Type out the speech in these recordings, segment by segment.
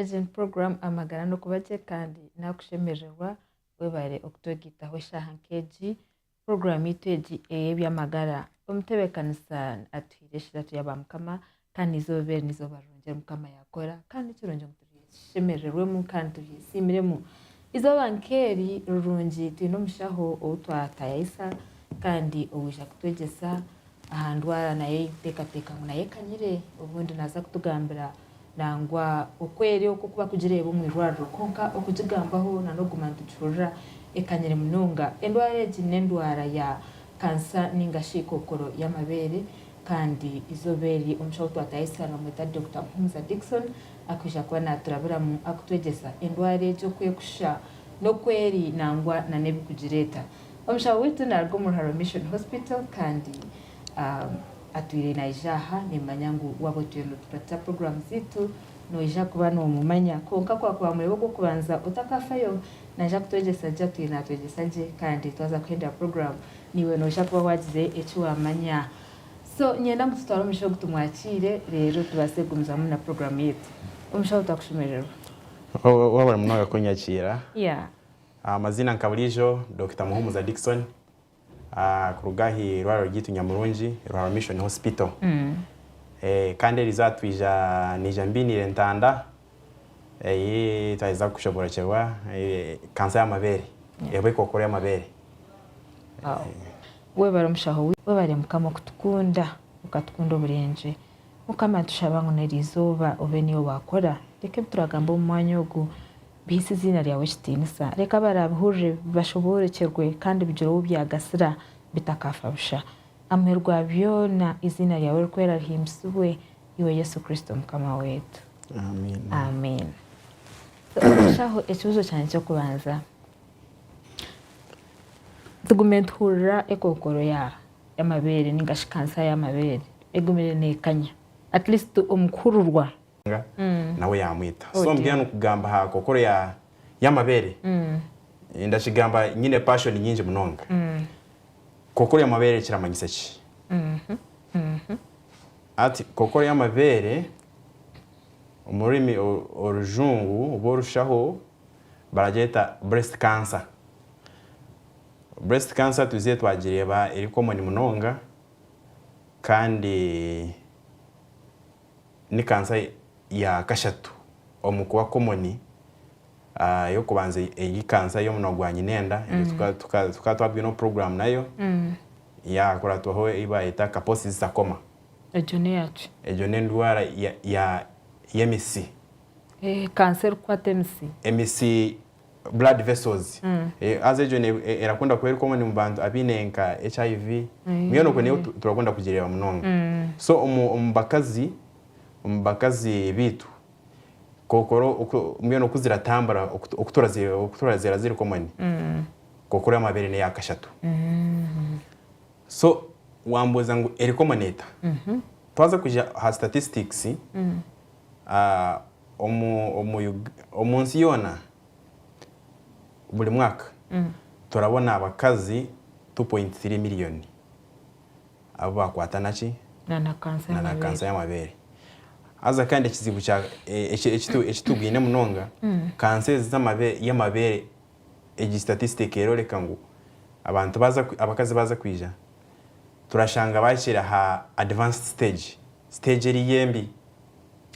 Egi ni puroguramu Amagara n'Okuba Gye kandi naakushemerererwa webare okutogiitaho eshaaha nk'egi. Puroguramu yaitu egi ey'eby'amagara omutebeekanisa atuhaire eshiratu ya ba mukama kandi eizooba eri n'eizooba rirungi eri mukama yaakora kandi ni kirungi ngu turishemerererwemu kandi turyesiimiremu. Eizooba nk'eri rirungi twine omushaho ou twatayayisa kandi owaija kutwegyesa aha ndwara nayo ei tuteekateeka ngu nayo ekanyire, obundi naaza kutugambira nangwa oku eri okwo ku barikugireeba omu irwariro. Kwonka okugigambaho na n'okuguma nitugihurira ekanyire munonga. Endwara egi n'endwara ya kansa nainga shi kookoro y'amabeere kandi eizooba eri omushaho ou twatayayisa nibaamweta Dokita Muhumuza Dickson. Akwija kuba naaturaburamu akutwegyesa endwara egyo ku erikushusha n'oku eri nangwa nana ebirikugireeta. Omushaho waitu naaruga omu Ruharo Mission Hospital kandi atwire naija aha. Nimmanya ngu waaba otwire nootukwatisa puroguraamu zaitu, noija kuba noomumanya. Kwonka ku akuba murebe ogw'okubanza otakaafayo, naija kutwegyesa gye, atwire naatwegyesa gye, kandi twaza kuhendera puroguraamu, naiwe noija kuba waagize eki waamanya. So nyenda ngu tutware omushsha ogu tumwakiire reero tubaase kugumizamu na puroguramu yaitu. Omushaho twakushemererwa. Wabura munonga kunyakiira. Yeah. Amaziina nka buriijo Dokita Muhumuza Dickson kuruga aha irwariro ryaitu Nyamurungi Ruharwa Mission Hospital. Kandi eriizooba twiija niija mbiiniire entanda. Ei twaheza kushoboorokyerwa kansa y'amabeere, eba ekookoro y'amabeere. Webare omushaho waitu. Webare mukama okutukunda okatukunda oburengye mukama nitushaba ngu nerizooba obe niiwe wakora reka ebituragamba omu mwanya ogu bihaise eziina ryawe ekitiinisa reka abarabihurire bashoboorokyerwe kandi bigire ou byagasira bitakaafa busha amuheru gwa byoona eiziina ryawe rikwera rihimbisibwe Iwe Yesu Kristo Mukama waitu. Amiina. Amiina. Omushaho ekibuzo kyangye ky'okubanza. Tugume nituhurira ekookoro y'amabeere ninga shi kansa y'amabeere egumire neekanya at least omu kuhururwa. Nawe yaamwita. So mbwenu nikugamba aha kookoro y'amabeere, ndakigamba nyine passion nyingi munonga. Kookoro y'amabeere kiramanyisa ki? Ati, Kokoro y'amabeere, omu rurimi orujungu oba orushaho baragyeta breast cancer. Breast cancer twizire twagireeba eri common munonga kandi ni cancer ya kashatu omu kuba common. eyokubanza eri kansa yomunwa gwa nyinenda tukaba twabwineho program nayo yakuratwaho eyibayeta kaposi zitakoma egyo neyaki egyo nendwara yemitsi kansa erikwata emitsi emitsi blood vessels haza egyo erakunda kuba eri common mubantu abine nka hiv mbwenu okwe niyo turakunda kugireba munonga so omubakazi beitu kookora mbwenu oku ziratambura oku turazireeba ziri komoni kookora amabeere n'eya kashatu so waambuuza ngu eri komoni eta twaza kugira aha statistics omu nsi yoona buri mwaka turabona abakazi two point three miriyoni. abu baakwata na ki? Na na kansa y'amabeere. Haza kandi ekizibu kya eki tubwine munonga, kansa ezi y'amabeere egi statistic erooreka ngu abantu baaza abakazi baaza kwija turashanga baahikire aha advanced stage, stage eriiyo embi.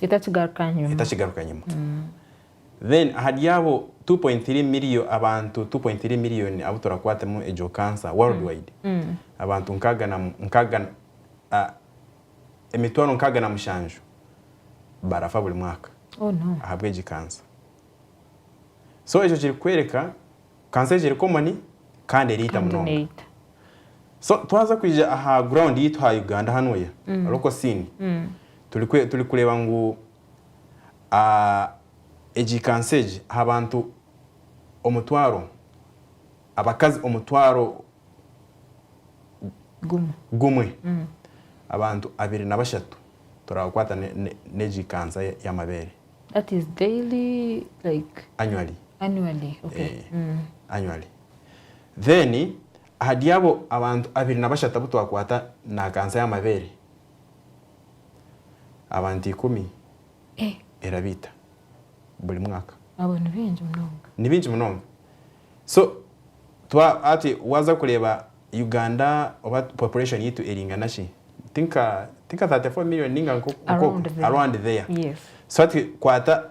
Etakigaruka nyima. Etakigaruka nyima. Then ahari abo two point three million abantu two point three million abu turakwatemu egyo cancer world wide abantu nkaaga na nkaaga na emitwaro nkaaga na mushanju barafa buri mwaka Oh no. ahabwegi cancer so ekyo kiri kukwereka cancer egi eri common kandi eriita Kandi munonga neita. so twaza kwija aha ground yaitu ha Uganda hanu oya local scene turi kwe turi kureba ngu a Egi kansa egi aha bantu omutwaro, abakazi omutwaro gumwe, gumwe. abantu abiri na bashatu turabakwata n'egi kansa y'amabeere. That is daily like? Annually. Annually, okay. Eeh, annually. Then ahari abo abantu abiri na bashatu abu twakwata na kansa y'amabeere, Abantu ikumi erabaita buri mwaka. Abo ni baingi munonga. Ni baingi munonga. So twa hati waza kureba Uganda oba population yaitu eringana ki? Ti nka ti nka 34 million ninga nko around there. So hati kwata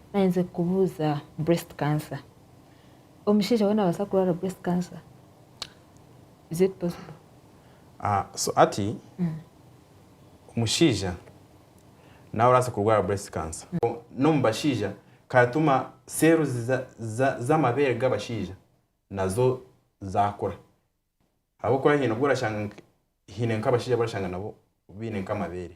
Naayenzire kukubuuza breast cancer. Omushaija we naabaasa kurwara breast cancer? Is it possible? Ah, so hati omushaija nawe orabaasa kurwara breast cancer. N'omu bashaija karatuma cells za za z'amabeere g'abashaija nazo zaakura. Ahabw'okuba haine obu orashanga nka haine nk'abashaija abu orashanga nabo baine nk'amabeere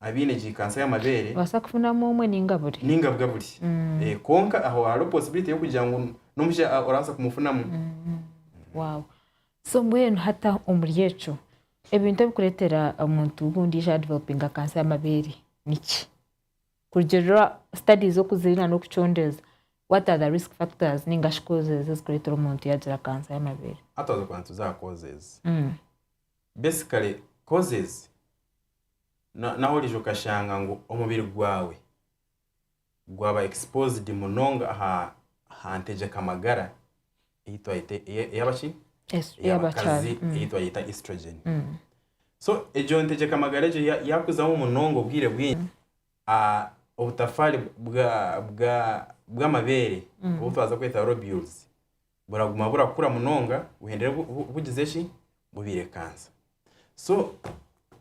abaine gi kansa y'amabeere. Obaasa kufunamu omwe ninga buri. Ninga bwa buri. Eeh kwonka aho hariho possibility y'okugira ngu n'omusha orabaasa kumufunamu. Wow. So mbwenu hata omuri ekyo ebintu ebikureetera omuntu ondiijo ya developinga kansa y'amabeere niki? Kurugiirira studies oku ziri na n'okucondeeza what are the risk factors ninga shi causes ezikureetera omuntu yaagira kansa y'amabeere? Hati twaaza kubanza tuze aha causes. Basically causes. Nawe orija okashanga ngu omubiri gwawe gwaba exposed munonga aha ntegyeka magara eyabakazi eyi twayeta estrogen. So egyo ntegyeka magara egyo yakuzamu munonga obwire bwingi, obutafaari bwamabeere obutwaza kweta lobules buraguma burakura munonga buhendere bugize ki bubirekansa so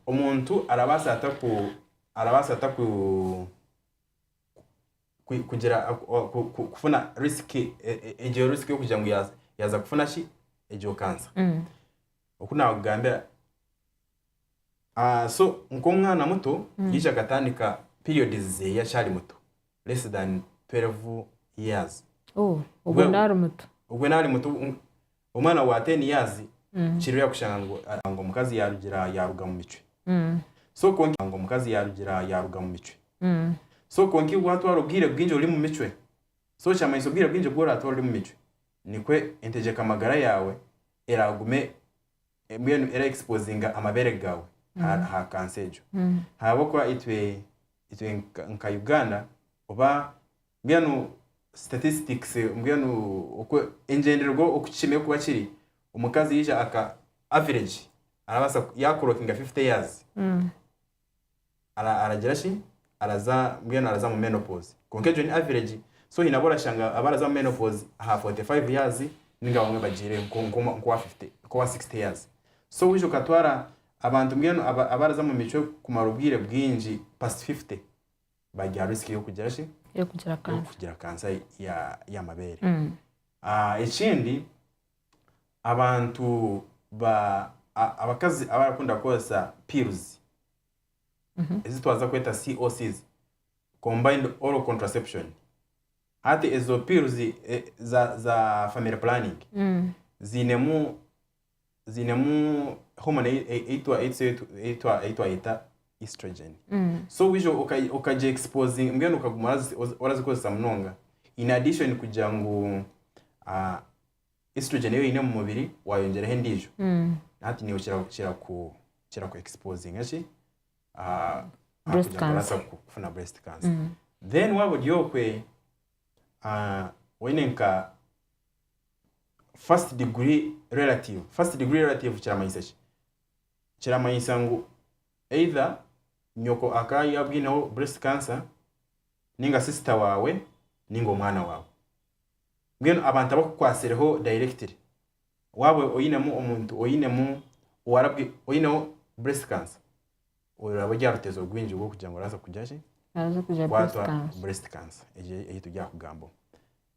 omuntu arabasa ata ku arabasa ata ku kugira kufuna risk e, e, egyo risk yokugira ngu yaza kufuna ki egyo kansa mm. okunakugambira ah, so nk'omwana muto mm. yija akatandika periods zeye akyali muto less than 12 years. Oh, obwo Bwe- naari muto. Obwo naari muto um, omwana wa 10 years Mm. kiri yakushanga ngu ah, ngu omukazi yarugira yaruga mu micwe. Mm. So konka ngu omukazi yarugira yaruga mu micwe. Mm. So konka iwe watwara obwire bwingi ori mu micwe. So kyamanyisa obwire bwingi obu oratwara ori mu micwe nikwo entegyeka magara yaawe eragume Embwa enu era exposinga amabere gawe aha cancer egyo ahabwokuba itwe itwe nka Uganda oba mbwenu statistics mbwenu engyendererwa oku kikine kuba kiri omukazi yaija aka average arabasa yakurokinga 50 years. ara aragira shi araza mbwenu araza mu menopause konka egyo ni average so hine abu orashanga abaraza mu menopause aha 45 years ninga abamwe bagire nko nko nkowa 50 nkowa 60 years so wija okatwara abantu mbwenu aba abaraza mu micwe kumara obwire bwingi past 50 bari aha risk y'okugira shi Y'okugira cancer. y'okugira cancer ya y'amabere ekindi abantu ba a- abakazi abarakunda kukoresa pills ezi twaza kweta COCs combined oral contraception hati ezo pills eh, za za family planning ziinemu ziinemu hormone ei- ei- eitwa eitwa eitwa eitwa eitwa estrogen so waija oka- okagye exposing mbwenu okaguma orazi- ozi- orazikozesa munonga in addition kugira ngu ah, estrogen ei oine omu mubiri wayongyeraho endiijo hati niiwe kira- kiraku kiraku exposinga ki aha aha Breast kugira ngu oraasa cancer. kufuna breast cancer then waaba ori okwe ah, woine nka first degree relative first degree relative kiramanyisa ki kiramanyisa ngu either nyoko akaba yabwineho breast cancer ninga sister waawe ninga omwana waawe. Mbwenu abantu abakukwatsireho directly waaba oinemu omuntu oinemu owarabwi oineho breast cancer oyo oraabe ori aha rutezo rwingi rw'okugira ngu orabaasa kugira ki? Orabaasa kugira breast kukwatwa cancer. breast cancer egyo ei turi aha kugambaho.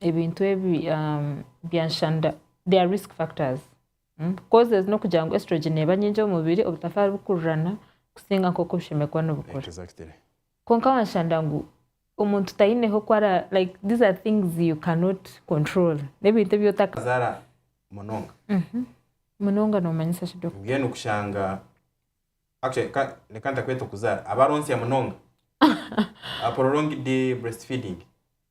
ebintu ebi byanshanda they are risk factors mm, causes n'okugira ngu estrogen neeba nyingi omu mubiri obutafaari bukurirana kusinga nk'oku obushemererwa nibukura exactly kwonka wanshanda ngu omuntu taineho ku ara like these are things you cannot control n'ebintu ebi otaka zara munonga munonga noomanyisa ki doc mbwenu kushanga actually ka reka ntakweta okuzara abaronsya munonga a prolonged breastfeeding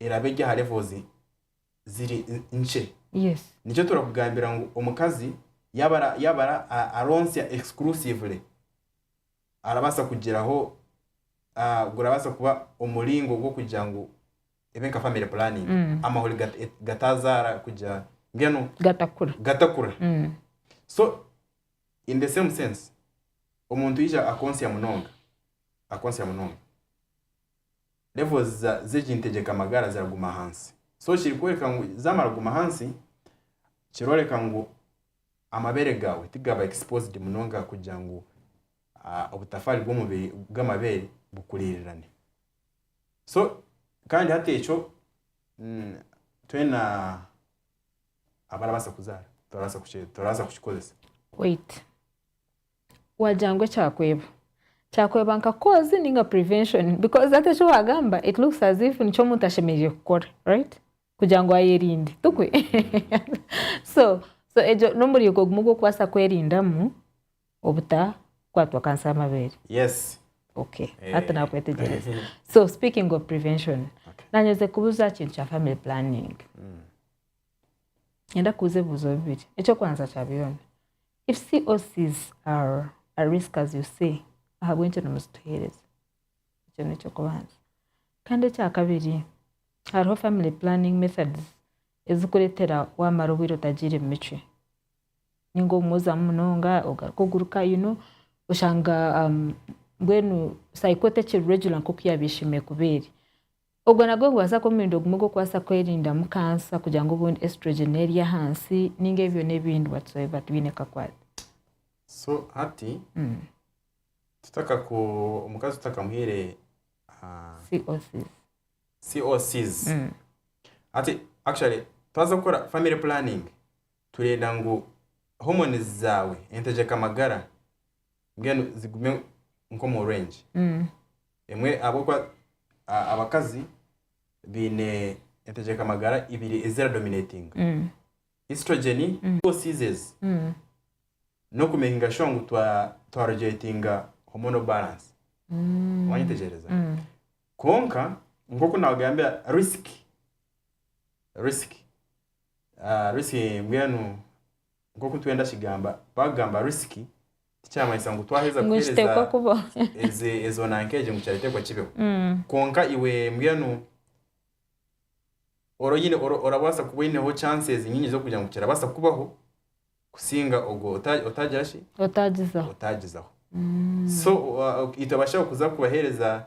eraba eri aha levels ziri nkye. Yes. Nikyo turakugambira ngu omukazi yaba ara yaba ara aronsya exclusively arabaasa kugiraho ah gurabaasa kuba omuringo gw'okugira ngu ebe nka family planning amahuri ga gataazaara kugira mbwenu Gatakura. gatakura. So in the same sense omuntu yaija akonsya munonga akonsya munonga. levels za zegi ntegyeka magara ziraguma hansi so kirikworeka ngu zamara kuguma hansi kiroreka ngu amabere gawe tigaba exposed munonga kugira ngu obutafari bwomubiri bwamabere bukuririrane so kandi hati ekyo twena abarabasa kuzara turabasa kukikozesa. Wait. Wagira ngu ekyakweba kyakweba nka cause ninga prevention because hati eki wagamba it looks as if nikyo omuntu ashemereire kukora right kugira ngu ayerinde tukwe so so egyo n'omuringo gumwe gw'okubaasa kwerindamu obutakwatwa kansa y'amabeere yes okay Eh. hati nakwetegyereza so speaking of prevention Okay. nanye nze kubuza aha kintu kya family planning Niinyenda kubuuza ebibuuzo bibiri. Eky'okubanza kya byona, if COCs are a risk as you say, ahabw'enki nimuzituheereza? Ekyo n'eky'okubanza. Kandi ekyakabiri, hariho family planning methods ezikureetera waamara obwire otagiire mu micwe. Nainga omwozamu munonga, ogaruka oguruka you know, oshanga mbwenu cycle tekiri regular nk'oku yaabaire eshemereire kuba eri. Ogwo nagwo nigubaasa kuba omuringo gumwe gw'okubaasa kwerindamu kansa kugira ngu obundi estrogen neeri ahansi ninga ebyo byona ebindi whatsoever tibiine kakwate. So hati tutakaku omukazi tutakamuhaire COCs. COCs. Hati actually twaza kukora family planning Turenda ngu homonizi zaawe entegyeka magara mbwenu zigume nk'omu rwengi emwe ahabw'okuba abakazi baine entegyeka magara ibiri eziradominatinga, Estrogeni, Oocy's ezi, n'okumekinga shuwa ngu twarugyuletinga hormonal balance. Wanyetegyereza? Kwonka nk'oku naagambira risiki, risiki. Risk mbwenu nk'oku twenda kigamba bakugamba risk tikyamanyisa ngu twaheza kuhereza ezo nanka egyo ngu kyateekwa kibeho kwonka iwe mbwenu orabaasa kuba oyineho chances nyingi z'okugira ngu kirabaasa kukubaho kusinga ogwo otagira ki otaagizaho so itwe abashaho kuza kubahereza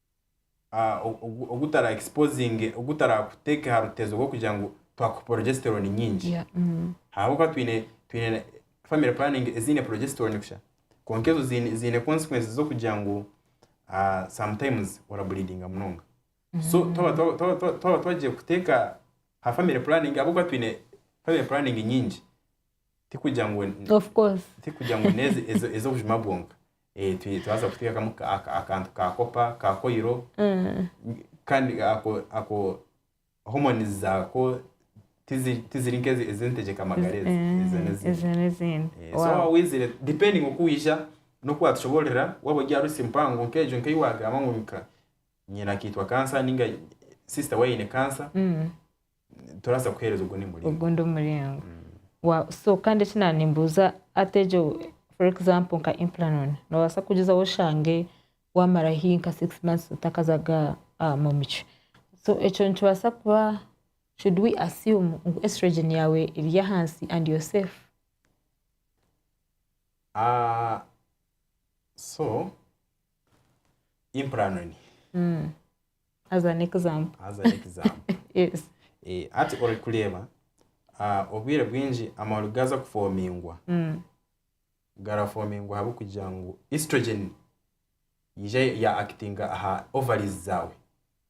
ogutarakuteeka aha rutezo rw'okugira ngu twakuha progesterone nyingi. Ahabw'okuba twine family planning eziine progesterone kusha kwonka ezo ziine consequences z'okugira ngu sometimes orableedinga munonga. So twaba twagiire kuteeka aha family planning ahabw'okuba twine family planning nyingi, tikugira ngu n'ez'obujuma bwonka. Eh, twi- twaza kuteekamu ka- aka- akantu ka kopa ka koiro Mm. kandi ako ako homonizi zaako tizi- tiziri nk'ezi ez'entegyeka magara ezi Eh, ezo n'ezindi ezo n'ezindi Eh, so Wow. waawizire depending oku waija n'oku watushoboororera waaba ori aha rusi mpango nk'egyo nk'ei waagamba ngu nika nyina akaitwa kansa ninga sister we aine kansa Mm. Turabaasa kuheereza ogundi muringo. Ogundi omuringo. Waaw so kandi eki naba nimbuuza hati egyo for example nka implanon nobaasa kugizaho oshange wamara hi nka six months otakaza ga ahamu micwe so ekyo nikibaasa kuba should we assume ngu estrogen yaawe eri ahansi and you're safe? So implanon. As an example. As an example. Yes. Eh, hati ori kureeba, ah, obwire bwingi amababi gaaza kufoomingwa, Mm. garafoomingwa ahabw'okugira ngu estrogen yaija ya actinga aha ovaries zaawe,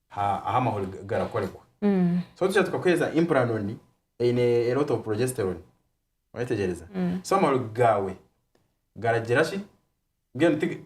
ha- ahu amahuri ga- garakorerwa. Mm. So tuja tukakuheereza implanon eine a lot of progesterone. Orayetegyereza? Mm. So amahuri gaawe garagira ki? Mbwenu ti-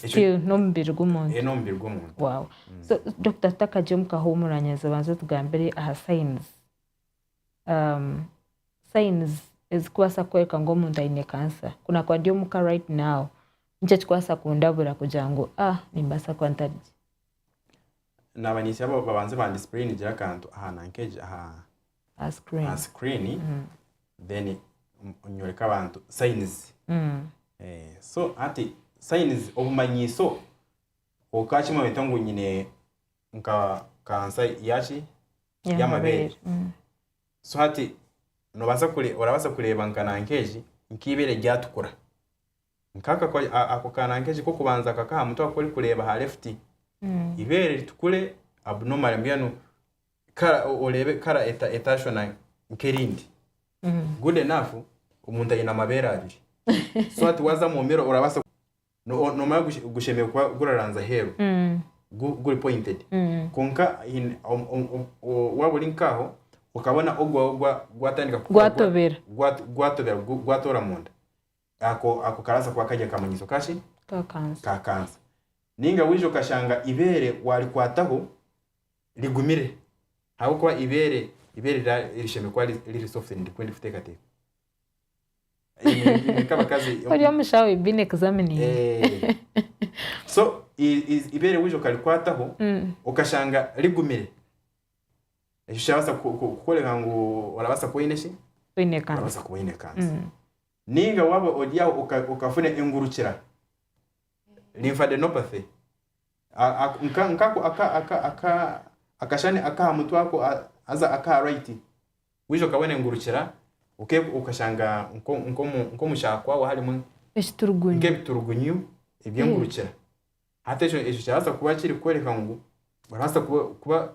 Ekyo- Still n'omubiri Eh, gw'omuntu n'omubiri gw'omuntu wow so doctor tutakagye omu kahuumuranyazo banza otugambire aha signs um, signs ezikubaasa kukworeka ngu omuntu aine cancer ku naakuba ndi omuka right now niki ekikubaasa kundabura kugira ngu ah nimbaasa kuba ntarigye naaba ninsya ba- babanze bandisipureyinigyire akantu aha nanka egi aha aha screen aha screen mm. then nyoreka abantu signs mm. eh, so ati signs obumanyiso kwonka kimwe bita ngu nyine nka kansa yaki yamabere mm. so hati nobasa kure orabasa kureba nkana nkeji nkibere ryatukura nkako ako kana nkeji kokubanza kakaha mutwe akori kureba ha left mm. ibere ritukure abnormal mbwenu kara o- oreebe kara eta- etashwana nk'erindi good enough omuntu aine amabeere abiri so hati waza mwomere orabaasa ku- no- o- nomanya gush- gushemereire kuba guraranzya aheeru gu- guri pointed kwonka in- om- om- om- o- waaba ori nkaaho okabona ogwawe gwa- gwatandika kukora gwa- Gwatobera. gwat- gwatobera gu- gwatoora munda ako ako karaasa kuba kari akamanyiso ka ki? Ka kansa. Ka kansa. Ninga waija okashanga ibeere waarikwataho rigumire ahabw'okuba ibeere ibeere rira rishemereire kuba ri riri soft and rikunda kuteekateeka. Imwe imwe nk'abakazi Ori omushaho, you've been examining. Eeeh. So i i ibeere waija okarikwataho Mm. okashanga rigumire, ekyo kirabaasa ku ku kukworeka ngu orabaasa kuba oine ki? Oine kansa. Orabaasa kuba oine kansa. Mm. Ninga waba ori aho okafuna engurukira, lymphadenopathy, nkako akashushani akaha mutwe ako haza akaha right, wija okabona engurukira okashanga nkomu kyaha kwawe harimu nkebiturugunyu ebyengurukira, hati ekyo kirabaasa kuba kiri kworeka ngu orabaasa kuba.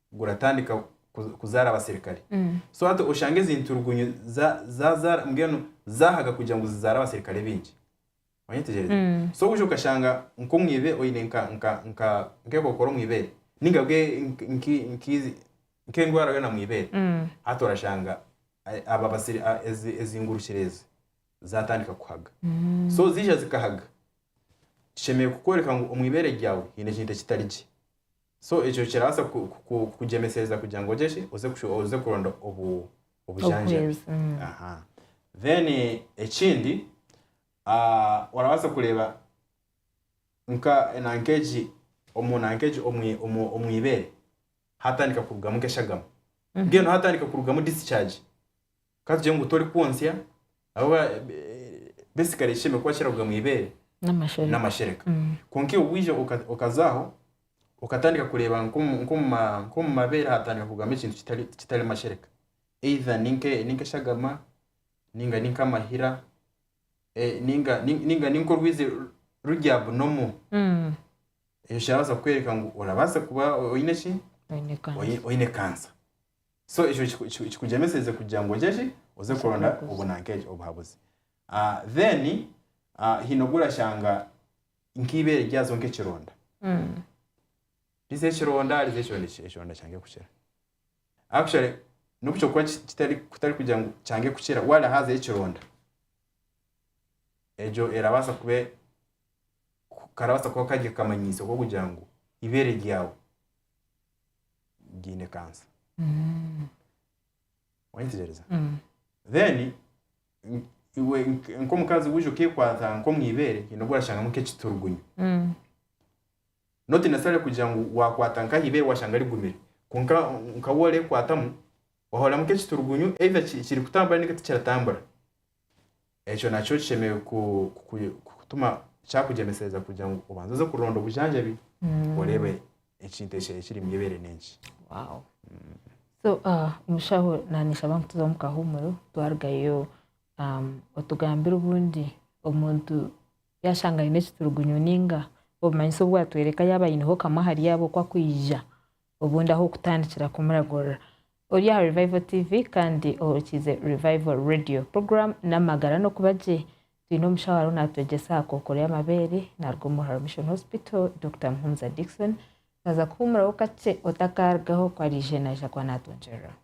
guratandika kuzaara abaserikare so hati oshanga ezi nturugunyu zazaara mbwenu zahaga kugira ngu zizaare abaserikare baingi wanyetegereza mm. so wija okashanga nk'omwibe oine nk'ekokora omwibere ninga bwe nk'endwara yona mwibere mm. hati orashanga ezingurukire ezi zatandika kuhaga mm. so zija zikahaga tushemereire kukworeka ngu omwibere ryawe haine ekintu ekitari gye So ekyo kirabaasa kukugyemesereza kugira ngu ogye ki oze kuronda obujanjabi then ekindi ah, orabaasa kureeba nk'egi omu ibeere hatandika kurugamu nk'eshagama mbwenu hatandika kurugamu discharge Ka tugire ngu torikwontsya, ahabw'okuba besigara ekishembe kuba kiraruga omu ibeere n'amashereka n'amashereka. Mm. Kwonka iwe waija oka- okazaaho okatandika kureeba nk'omu nk'omu ma- nk'omu mabeere hatandika kurugamu ekintu kitari kitari mashereka. Either ni nke- ni nk'eshagama, nainga ni nk'amahira, eh, nainga nainga nainga ni nk'orwizi ru- ruri abnormal. Mm. Ekyo kirabaasa kukworeka ngu orabaasa kuba oine ki? Oine Oine- kansa. Oine kansa. So ekyo kiku- kiku- kikugyemeseze kugira ngu ogye ki oze kuronda Obuhabuzi. obunankeegi obuhabuzi Ah, then ah, haine ogu orashanga nk'eibeere ryazo nk'ekironda riza ekironda riza ekironda eki- ekironda kyange kukira actually n'obu kyokuba ki- kitari kutari kugira ngu kyange kukira waba hazayo ekironda egyo erabaasa kuba e- ku- karabaasa kuba kari akamanyiso k'okugira ngu eibeere ryawe gaine kansa oyetegyereza then iwe nk- nk'omukazi wija okekwata nk'omu ibeere haine ogu orashangamu nk'ekiturugunyu not necessarily kugira ngu wakwata nka aha ibeere washanga rigumire kwonka nka waaba oreekwatamu wahuriramu nk'ekiturugunyu either ki- kirikutambura ninga tikiratambura Ekyo nakyo kishemereire kukutuma kyakugyemesereza kugira ngu obanze oze kuronda obujanjabi oreebe ekintu ekyo ekiri omu ibeere n'enki. Wow. So, ah, omushaho nanyeshaba ngu tuze omu kahumuro twarugayo um, otugambire obundi omuntu yashanga aine ekiturugunyu ninga obumanyisa obwatwereka yaba aineho kamwe ahari abo oku akwija Obundi ahu okutandikira kumuragurira ori aha Revival TV kandi ohurikiize Revival Radio. Program n'amagara n'okuba gye. Twine omushaho ariho naatwegyesa aha kookoro y'amabeere naaruga omu Ruharo Mission Hospital, Dokita Muhumuza Dickson. Naaza kuhuumuraho kakye otakaarugaho ku ariije naija kuba naatwongyereraho.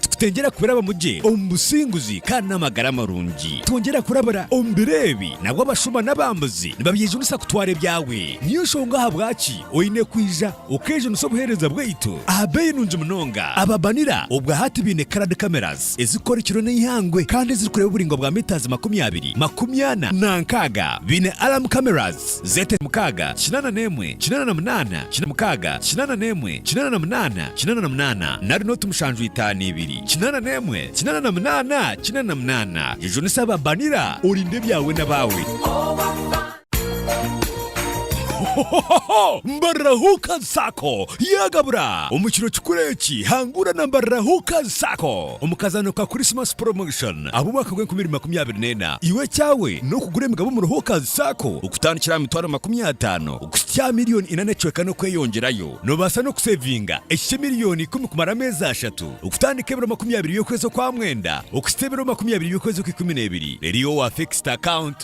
Tikutengyera kurabamu gye omu businguzi kandi n'amagara marungi. Twongyera kurabira omu biro ebi, nabwo abashuma n'abambuzi nibabyejunisa kutwara ebyawe. Niyo nshonga ahabwaki oine kwija okeejunisa obuheereza bwaitu aha beeyi nungi munonga. Ababanira obwa hati baine Card Cameras ezirikukora ekiro n'eihangwe kandi ezirikureeba oburaingwa bwa metres makumi abiri, makumi ana na nkaaga. Baine Alarm Cameras Zete mukaaga kinaana n'emwe kinaana na munaana kinaana mukaaga kinaana n'emwe kinaana na munaana kinaana na munaana nari nooti mushanju itaano ibiri kinaana n'emwe kinaana na munaana kinaana na munaana jujunisa aba banira orinde ebyawe n'abaawe. Hohohoho! Mbarira Hookers Sacco yaagabura! Omu kiro kikuru eki, hangura na Mbarira Hookers Sacco. Omu kazano ka Christmas Promotion ab'omwaka gw'enkumi ibiri makumi abiri n'ena, iwe ekyawe n'okugura emigabo omu Roho Kazi Sacco okutandikira aha mitwaro makumi ataano kuhitsya aha miriyoni ina n'ekicweka n'okweyongyerayo. Noobaasa n'okuseevinga eki ky'emiliyoni ikumi kumara ameezi ashatu, okutandika ebiro makumi abiri by'okwezi okwa mwenda okuhitsya ebiro makumi abiri by'okwezi okw'ikumi n'ebiri, reero iwe wa fixed account.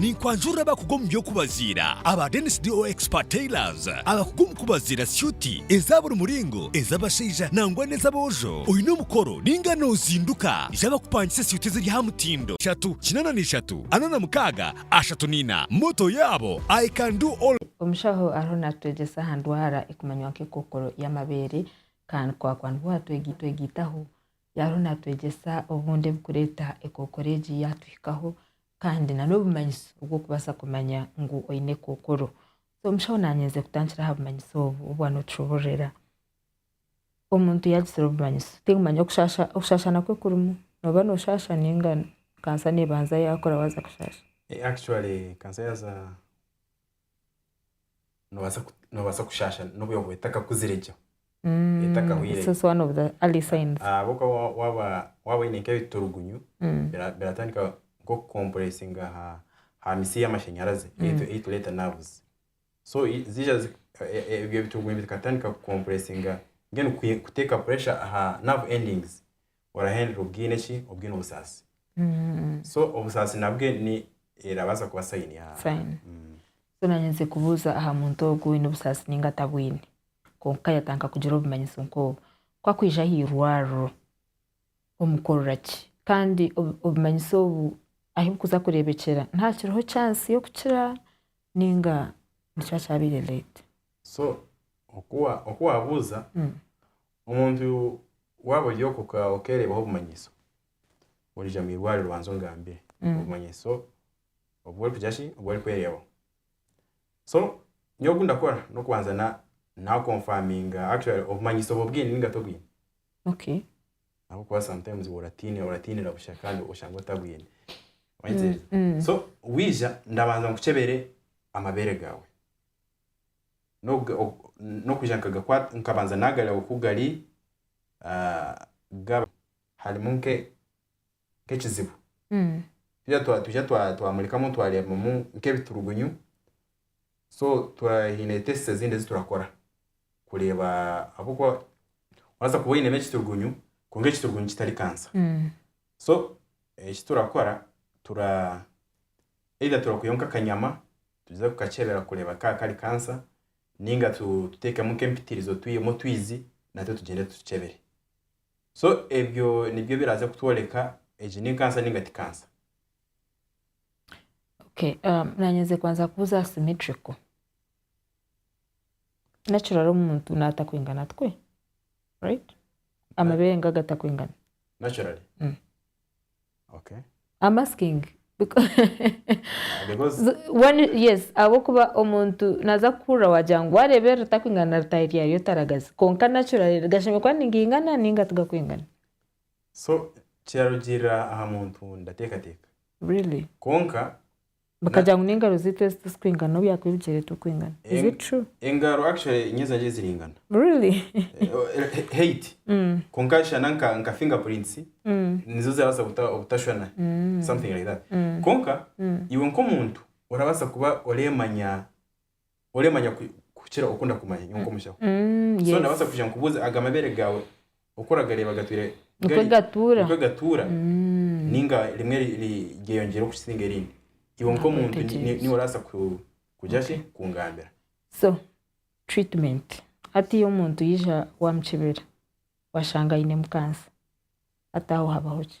Ninkwanjurira abakugu omu by'okubaziira aba Dennis DO Expert Tailors abakugu omu kubaziira syuti eza buri muringo, ez'abashaija nangwa n'ez'aboojo. Oine omukoro ninga nozinduka? Ija bakupangise syuti eziri aha mutindo. Ishatu, kinana na ishatu, ana na mukaaga, ashatu na ina. Motto yaabo, I can do all. Omushaho ariho naatwegyesa aha ndwara ekumanywa nk'ekookoro y'amabeere kandi kwakwanihwa twegiita ogiitaho Yaariho naatwegyesa obundi ebirikureeta ekookoro egi yaatuhikaho kandi na n'obumanyiso obw'okubaasa kumanya ngu oine ekookoro. So omushaho naanyenzire kutandikira aha bumanyiso obu obu anotushoboororera. Omuntu yaagizire obumanyiso tikumanyo okushaasha okushaashana kwe kurimu. Nooba nooshaasha nainga kansa neebanza yaakora waaza kushaasha. Actually kansa yaaza nobaasa ku- nobaasa kushaasha n'obuyongo etakakuzire gye etakahwire This is one of the early signs. ahabw'okuba wa- waaba waaba oine nk'ebiturugunyu Mm. bira- biratandika nk'okukompuresinga aha aha mitsi y'amashanyarazi ei tu- ei tureeta nerves so i- ziija zi- e- e- ebyo biturugunyu bikatandika kukompuresinga mbwenu kwi- kuteeka pressure aha nerve endings orahendera obwine ki obwine obusaasi so obusaasi nabwe ni erabaasa kuba sayini ya Sign. Mm. so nanye nze kubuuza aha muntu ogu oine obusaasi ninga atabwine kwonka yatanka kugira obumanyiso nk'obu ku akwija aha irwariro omukorera ki kandi obu- obumanyiso obu ahu bukuza kureebekyera naha kiriho chance y'okukira ninga nikiba kyabaire late so oku wa- oku wabuuza Mm. Omuntu waaba ori okwo okeereebaho obumanyiso, oriija omu irwariro obanze ongambire obumanyiso obu orikugira ki, obu orikwereebaho. So nyowe oku ndakora n'okubanza na confirminga actually obumanyiso obwo obwine nainga tobwine. Ahabw'okuba sometimes oratiinira oratiinira busha kandi oshange otabwine. Wahikiriza? So waija ndabanza nkukyebere amabeere gaawe. n'okwija nkabanza naagareba oku gari gaba harimu nk'ekizibu twija twamurikamu twareebamu nk'ebiturugunyu so twine tests ezindi ezi turakora kureeba ahabw'okuba orabaasa kuba oinemu ekiturugunyu kwonka ekiturugunyu kitari kansa so eki turakora Either turakuheyo nk'akanyama tuze kukakyebera kureeba ka kari kansa ninga tutekemu nk'empitirizo twihemu otwizi natwe tugyende tutukyebere. So ebyo nibyo biraze kutworeka egi ni kansa ninga ti kansa. Okay, um, nanye nze kubanza kubuza aha symmetrical. Natural omuntu natakwingana tukwe. Right? Amabere ngaga takwingana. Naturally. Mm. Am asking yes ahabwokuba omuntu naza kukuhurira wagira ngu wareeba eri ritakwingana na ritaahi ryayo otaragaze kwonka naturally gashemerire kuba nigaingana ninga tigakwingana. So kirarugiirira aha muntu ndateekateeka kwonka Bakagira ngu n'engaro ziitu ezi tizikwingana n'obu yaakuba ebigyere turikwingana. Is it true? Engaro actually niyo zangye ziringana. Really? Height. Kwonka shana nka nka finger prints nizo zirabaasa kuta obutashwana. Something like that. Kwonka iwe nk'omuntu orabaasa kuba oreemanya oremanya kukira oku ndakumanya nyowe nk'omushaho so ndabaasa kwija nkubuuze aga mabeere gaawe oku oragareeba gatwire nikwo gatuura ninga rimwe ryeyongyera okusinga erindi iwe nk'omuntu niwe orabaasa kugira ki kungambira so treatment hatiiya omuntu yaija waamukibira washanga ainemu kansa hati aho habaho ki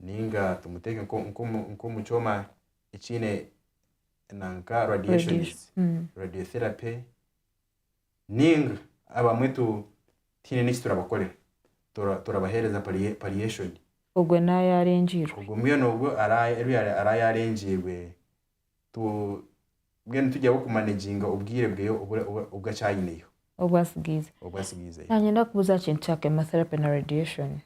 nainga tumuteeke nk'omu kyoma ekiine nanka radiations, radiotherapy nainga abamwe tihaine n'eki turabakorera turabaheereza palliation. Ogwo naaba yaarengiirwe? Ogwo mbwenu ogwo araba yaarengiirwe mbwenu nitugyezaho kumanaginga obwire bwe obu akyayineyo. Obu atsigaizeyo. Obu atsigaizeyo. Naanye ndakubuuza ekintu kya chemotherapy na radiation.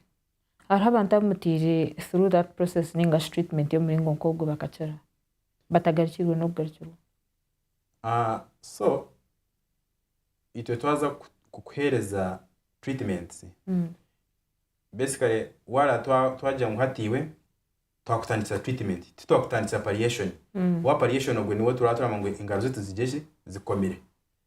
Hariho abantu abu mutaire through that process ninga shi treatment y'omuringo nk'ogwo bakakira batagarukirwe n'okugarukirwa. Aah so itwe twaza kukuhereza treatments basically wara twagira ngu hati iwe twakutandikira treatment titwakutandikira palliation, owa palliation ogwe niwe turaba turagamba ngu engaro ze tuzigye ki zikomire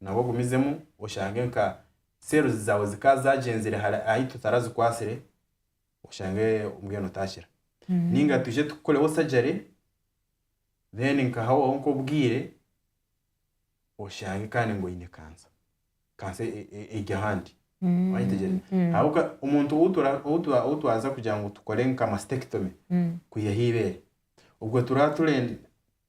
nabwo ogumizemu oshange nka cells zaawe zikaba zaagyenzire hare ahi tutarazikwatsire oshange mbwenu otaakira ninga twije tukukoreho surgery then nkahaho nk'obwire oshange kandi ngu oine kansa kansa e- e- eri ahandi Wanyitegyereza? Ahabw'okuba omuntu ou tura- ou tura- ou twaza kugira ngu tukore nka mastectomy kwihaho eibeere obwo turaba turenda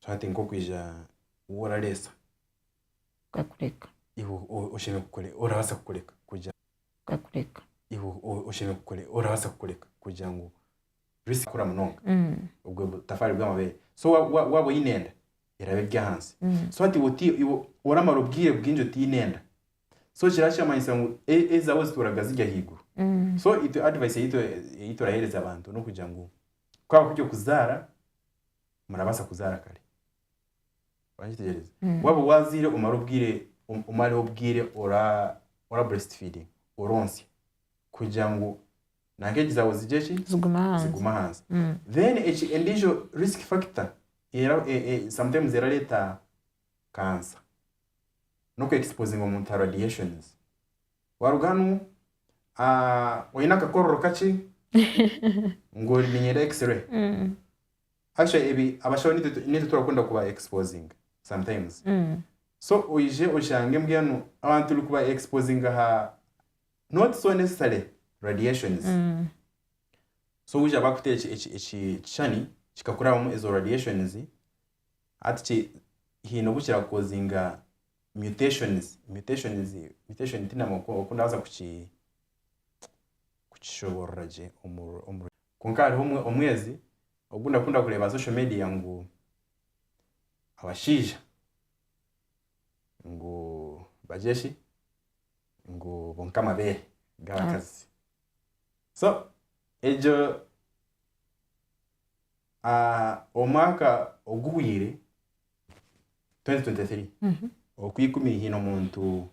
so hati nk'okwija waaba orareetsa nkakureka iwe o- oshemereire kukore orabaasa kukureka kugira nkakureka iwe o- oshemereire kukore orabaasa kukureka kugira ngu risk kukura munonga obwo butafaari bw'amabeere so wa- wa- waaba oine enda eraba eri ahansi so hati iwe oti- iwe oramara obwire bwingi otaine enda so kiraba kiramanyisa ngu e- ezaawe zituuraga ziri ahaiguru so itwe advice ei tu- ei turaheereza abantu n'okugira ngu Ku habaho eby'okuzaara, murabaasa kuzaara kare. Orakitegyereza? Mm. Waaba waazaire omare obwire, om- omareho obwire ora, ora breastfeeding, oronsya, kugira ngu na nk'egi zaawe zigye ki? Zigume ahansi. Zigume ahansi. Mm. Then eki endiijo risk factor era e- e- sometimes erareeta cancer, n'okweexposinga omuntu aha radiations. Waaruga hanu Ah oyine akakororo kakye ngu oriminyera x-ray actually ebi abashaho nitwe tu- nitwe turakunda kuba exposing sometimes so oije oshange mbwenu abantu turi kuba exposing aha not so necessary radiations so wija bakute eki- eki- eki- ekishushani kikakurabamu ezo radiations hati ki hiine obu kirakukozinga mutations mutations mutation tinamu oku oku naza kuki kukishoborora gye omu omu kwonka hariho omwe omwezi ogu ndakunda kureeba aha social media ngu abashaija ngu bagire ki ngu bonka amabeere g'abakazi so egyo omwaka oguhweire 2023 oku ikumi haine omuntu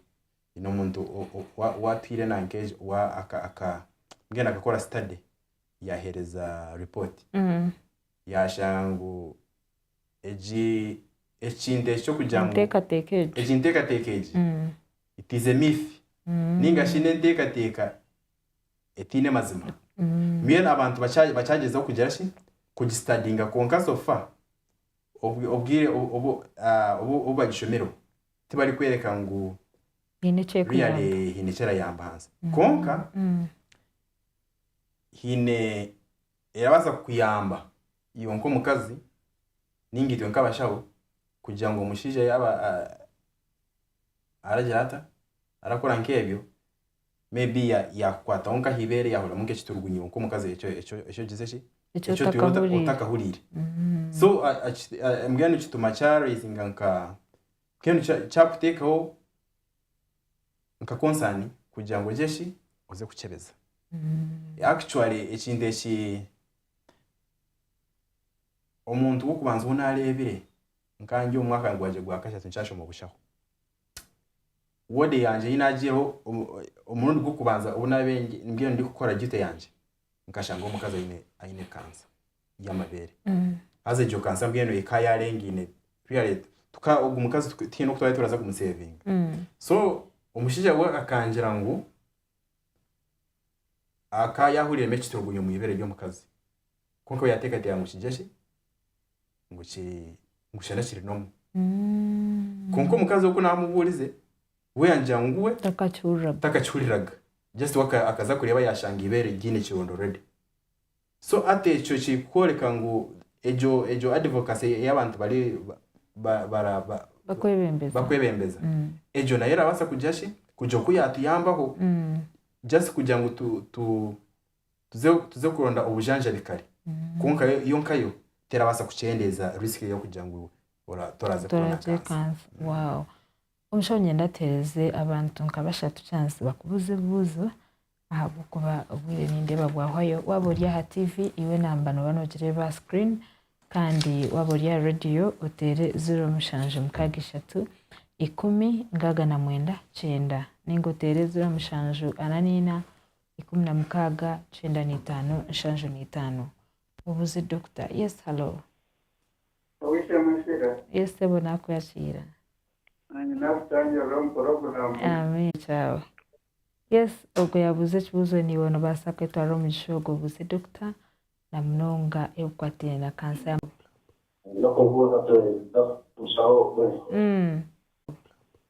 haine omuntu o- o- wa- watwire nanka egi wa- aka- aka- mbwenu akakora study yahereza report yashanga ngu egi ekintu eki ky'okugira ngu enteekateeka egyo egi nteekateeka egi Mm, it is a myth mm, ninga shi n'enteekateeka etaine mazima mm, mbwenu abantu bakya- bakyagyezaho kugira shi kugistadinga kwonka sofa obwire obu bagishomireho tibarikworeka ngu really haine eki erayamba ahansi. Kwonka haine erabaasa kukuyamba iwe nk'omukazi nainga itwe nk'abashaho kugira ngu omushaija yaaba aragira ata, arakora nk'ebyo, maybe ya yakukwataho nka ahibeere yahuriramu nka ekiturugunyo nka omukazi ekyo ekyo ekyo ogize ki Ekyo ekyo otwire ota- otakahuriire. otakahuriire so a- a- ki- a- mbwenu kituma kya raisinga nka mbwenu kya- kyakuteekaho nka concern kugira ngu ogye ki oze kukyebeza actually ekintu eki omuntu w'okubanza ou naareebire nka ndi omu mwaka gwangye gwa kashatu nkyashoma obushaho wode yangye ei naagyireho omurundi gw'okubanza obu naabaire mbwenu ndikukora duty yangye, nkashanga omukazi aine aine kansa y'amabeere. Haza egyo kansa mbwenu ekaba yaarengaine really tuka ogwo mukazi tuka tihaine oku twaabaire turaza kumuseevinga. So omushaija we akangira ngu akaba yaahuriiremu ekiturigunyo omu ibere ry'omukazi, kwonka we yaateekateeka ngu kigye ki? ngu kiri ngu shana kiri nomu kwonka omukazi ogu namuburize we yangira ngu we takakihuriraga takakihuriraga just we aka- akaza kureba yashanga ibere ryine ekironda already so ati ekyo kiri kworeka ngu egyo egyo advocacy eyi abantu bari ba- ba- bara- ba- bakwebembeza bakwebembeza Mm. egyo nayo erabasa kugira shi kugira oku yatuyambaho Mm. just kugira ngu tu- tu- Tuze tuze kuronda obujanjabi kare. Kwonka yo yo nkayo terabaasa kukyendeeza risk y'okugira ngu ora- toraze kubona toraje kansa. kansa wow omushaho nyenda ateereze abantu nka bashatu chance bakubuuze ebibuuzo ahabw'okuba obwire nindeeba bwahwayo waaba ori aha TV iwe enamba nooba noogireeba aha screen kandi waaba ori aha radio oteere ziro mushanju mukaaga ishatu ikumi nkaaga na mwenda kyenda ninga oteere ziro mushanju ana naina ikumi na mukaaga kyenda na itaano nshanju na itaano Obuzi Dokita Yes Hallo Oweishemwe Shira Yes Sebo Nakwakira Nanye nakushangirira omu puroguramu Amen Kyawe Yes Ogwo yabuuza ekibuuzo niiwe nobaasa kwetwarira omugisha ogwo Obuzi Dokita Na munonga ebikukwataine na kansa ya Nyokobuuza Twine Dokita Mushaho ogwe mm.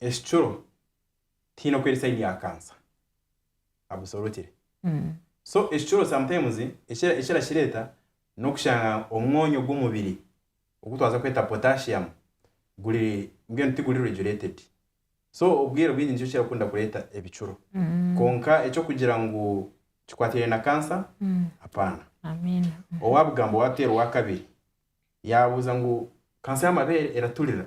ekicuro tihaine oku eri sayini ya kansa abusorokire so ekicuro sometimes eki eki erakireta n'okushanga omwonyo ogw'omubiri ogu twaza kweta potassium guri mbwenu tiguri regulated so obwire obwingi nikyo kirakunda kureta ebicuro kwonka eky'okugira ngu kikwatiraine na kansa apaana Amiina. owabugamba owateera owakabiri yabuuza ngu kansa y'amabeere eraturira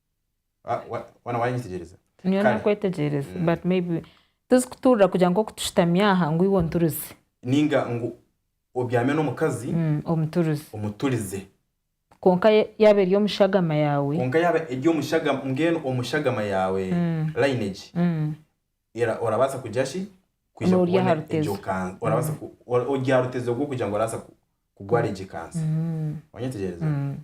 Wa- wa- Waana waanyetegyereza? niyo Kare. nakwetegyereza Mm. but maybe tizikutuurira kugira ngu oku tushutami aha ngu iwe onturize ninga ngu obyame n'omukazi Mm, omuturize omuturize kwonka ye- yaaba eri omushagama yaawe kwonka yaaba eri omushaga mbwenu omushagama yaawe Mm. lineage Mm, era orabaasa kugira ki kwija N'ori aha kubona rutezo. egyo kansa orabaasa ku- ora- ori aha rutezo rw'okugira ngu orabaasa ku- kurwara egyo kansa mm, wanyetegyereza mm.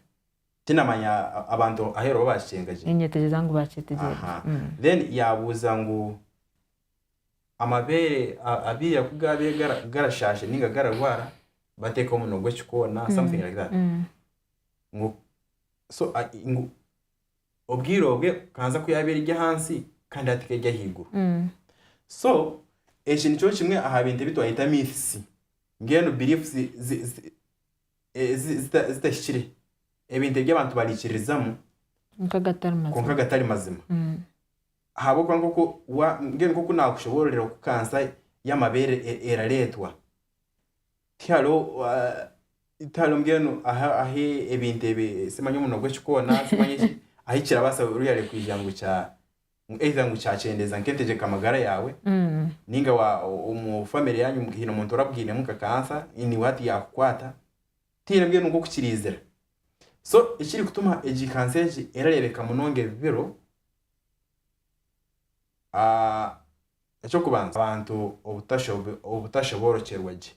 Tinamanya abantu ahu eriho bakikyenga gye. Ninyetegyeza ngu bakyetegye Aha. gye. Mm. Then yabuuza ngu amabeere a- abiira ku gaabaire gara- garashaasha ninga gararwara bateeka omunwa gw'ekikoona something like that. Mm. Ngu so a- i- ngu obwire obwe kanza ku yaabaire eri ahansi kandi hati ka eri ahaiguru. Mm. So eki nikyo kimwe aha bintu ebi twayeta myths. Mbwenu beliefs zi- zi- zi- zitahikire, ebintu ebi abantu baraikiririzamu kwonka gatari mazima. Ahabw'okuba mbwenu nk'oku naakushoboororera oku kansa y'amabeere erareetwa, tihariho mbwenu ahu ebintu ebi, simanya omuno gw'ekikoona, ahu kirabaasa kwiija ngu ngu either ngu kyakyendeeza nk'entegyeka magara yaawe ninga wa omu family yanyu haine omuntu orabwinemu nka cancer niiwe hati yakukwata tihaine mbwenu nk'okukiriizira so ekiri kutuma egi cancer egi erareebeka munonga ebi biro eky'okubanza abantu obutashoboorokyerwa gye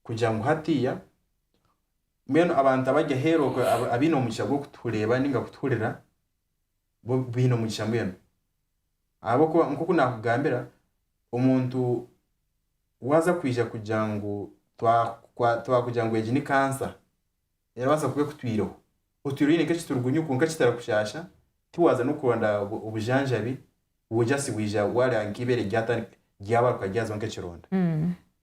kugira ngu hatiiya mbwenu abantu abari aheeru abaine omugisha gw'okutureeba ninga kutuhurira. bo baine omugisha mbwenu. Ahabw'okuba nk'oku naakugambira, omuntu waaza kwija kugira ngu twa- twakugira ngu egi ni kansa, erabaasa kuba ekutwireho. Otwire oine nk'ekiturugunyu kwonka kitarikushaasha, tiwaaza n'okuronda obujanjabi, bwo just bwija waareba nk'eibeere ryatandika ryabaaruka ryazaho nk'ekironda.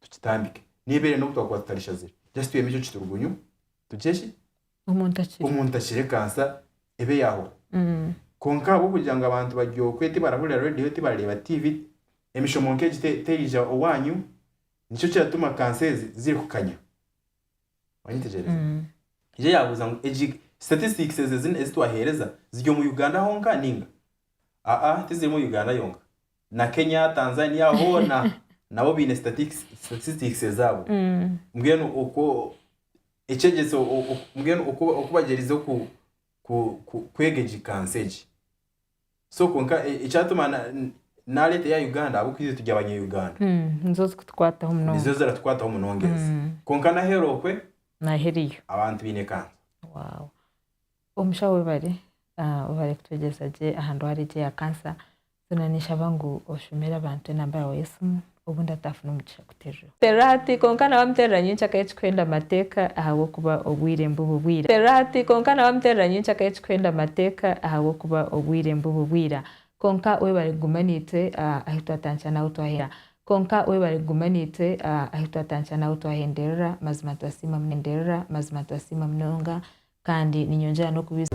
Tukitandike. Nebeera enda okutwakuba tutarishazire. Just twihemu ekyo kiturugunyu. Tugye ki? Omuntu akire. Omuntu akire kansa ebe yahwa. Konka ahabwokugira ngu abantu bari okwe tibarahurira radio tibarareba TV, emishomo nka egi terija owanyu. Nikyo kiratuma kansa ezi ziri kukanya. Wanyetegyereza? Ija yabuza ngu egi statistics ezi ezi twahereza ziri omu Uganda honka ninga? Aa tizirimu Uganda yonka. na Kenya, Tanzania hoona nabo baine statics, statistics ezaabo. Mbwenu okwo ekyegyese o- o- mbwenu oku oku bagyerize ku ku ku kwega egi kansa egi. So kwonka e- ekyatuma na- n- naareeta eya Uganda ahabw'okuba itwe turi abanya-Uganda. Nizo zikutukwataho Nizo munonga. ziratukwataho munongyeza. Mm. Kwonka n'aheeru okwe Naho eriyo. abantu baine kansa. Wow. Omushaho webare, ah, webare kutwegyesa gye aha ndwara egi eya kansa. Zoona ninshaba ngu oshomere abantu enamba yaawe y'esimu obundi ataafuna omugisha kuteereraho. Terera hati kwonka nawe amuterera nyenkya akahe ekirikwenda amateeka ahabw'okuba obwire nibuba obwira. Terera hati kwonka nawe amuterera nyenkya akahe ekirikwenda amateeka ahabw'okuba obwire nibuba obwira. Kwonka webare kuguma naitwe ahu twatandikira n'ahu twahera. Kwonka webare kuguma naitwe ahu twatandikira n'ahu twahenderera mazima nitubasiima munonga mazima nitubasiima munonga kandi ninyongyera n'okubiija.